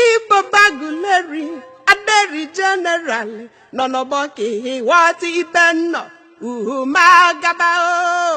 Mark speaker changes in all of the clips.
Speaker 1: Ibobo Aguleri aderi jeneral nọ n'ọgbọ ka ihe ghọta ibe nnọ uhu ma gaba o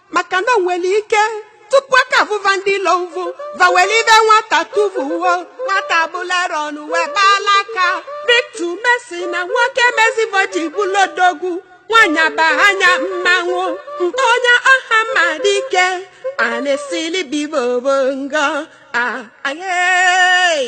Speaker 1: maka na o wele ike tupu aka avụva ndị ilo ụvụ va weli ive nwata tụvuo nwata bụlere ọnụ wee gbaala aka bitu mesi na nwoke mezie ive o ji bụlụ odogwu nwaanyị abahanya mmanwụ nke onye Ọhamadike a na-esili bibobo ngọ a ahee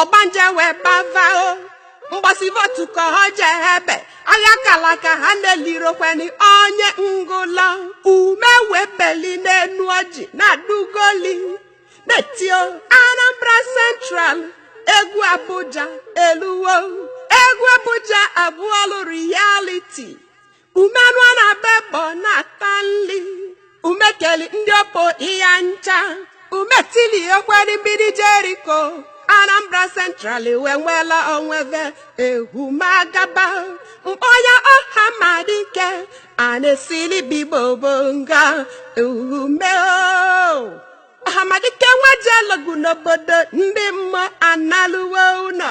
Speaker 1: ọgbanje wee bavao mbọsị votu ka ọ jee ebe agha kala aka ha na-elirokweni onye ngụla Ume wee beli n'enu ọjị na-adụgoli na-eti o Anambra Central egwu Abuja eluwo egwu Abuja abụọlụ reality Ume anụ a na-agba egbe ọ na-ata nri Ume keli ndị opo ịya ncha Ume tili ekweri mgbidi Jeriko Anambra Central wee nwela onwe ve ehumagaba mkpọya Ọhamadike a na-esili bibobo nga Ume Ọhamadike nwa jelu ọgụ n'obodo ndị mmụọ analuwo ụnọ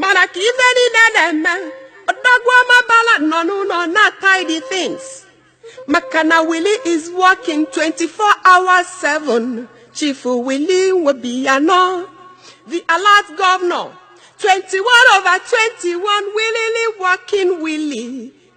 Speaker 1: mana ka ife niile na-eme odogwu Ọmabala nọ n'ụlọ na-tidy things maka na Willie is working 24 hours 7 Chief Willie Obiano the alert governor 21 over 21 willingly working Willie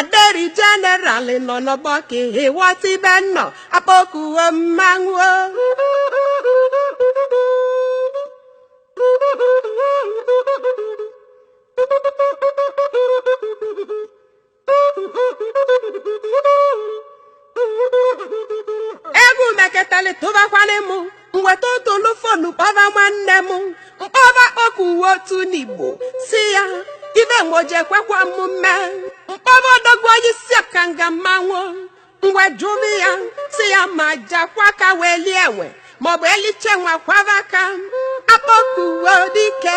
Speaker 1: aderi jeneral nọ n'ọgbọ ka ịghọta ibe nnọ akpọkuo mmanwụ egwu meketali tụbakwanị m wee tụtụlụ fonu kpọba nwanne m mkpọba kpọkụ uwe otu n'Igbo sị ya ive nwoje kwekwa m mme mkpọba odogwu onye isi ọkanga mmanwụ ngwe jụrụ ya sị ya ma jakwa ka wee lie enwe maọbụ elicha enwe akwọba aka Akpọkuedike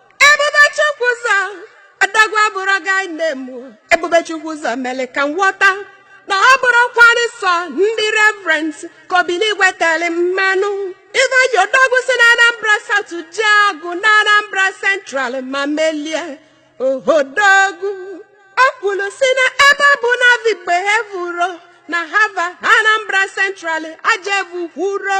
Speaker 1: Ebube Chukwu ụzọ adagwa bụrụ gị nne m Ebube Chukwu ụzọ mere ka m ghọta na ọ bụrọkwanụ sọ ndị reverend ka Obinigwe tere mmanụ ive odogwu si na Anambra South ji aje na Anambra Central ma melie odogwu o kwuru si na ebe ọ bụ na vigbe evuro na hava Anambra Central ajevu kwuro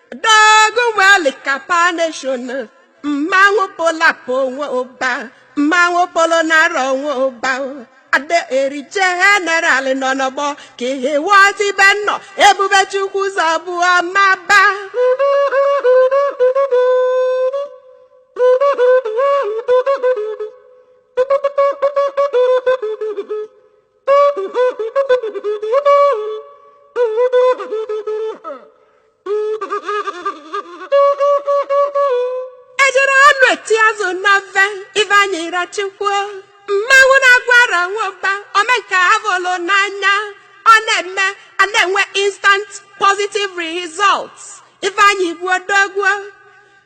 Speaker 1: dogwu nwelu kapa nation mmanwụ polapụ onwe ụba mmanwụ polo nara onwe ụba ada eri jeneral nọ n'ọgbọ ka ihe wọta ibe nnọ Ebube Chukwu ụzọ bụ ọmaba ejiri anụ eti azụ na mfe Iveanyịrọchukwu o mmanwụ na-agwara nwa Ụba omenke avụlụ n'anya ọ na-eme a na-enwe instant positive results Ifeanyị bụ odogwu o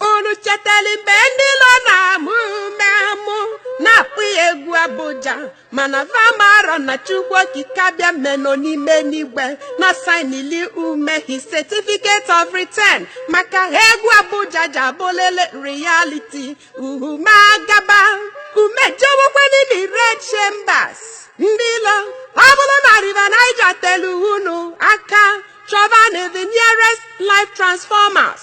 Speaker 1: unu chetelu mgbe ndị ilo na-amụ Umeh amụ na-akpọ ya egwu Abuja mana va amarọ na Chukwu Okike Abịama nọ n'ime enigwe na-asainili Umeh his certificate of return maka ha egwu Abuja ji abụlụ reality oh Umeh agaba Umeh ejewekwa n'ime red chambers ndị ilo ọ bụrụ na River Niger telu unu aka chọbanụ the nearest life transformers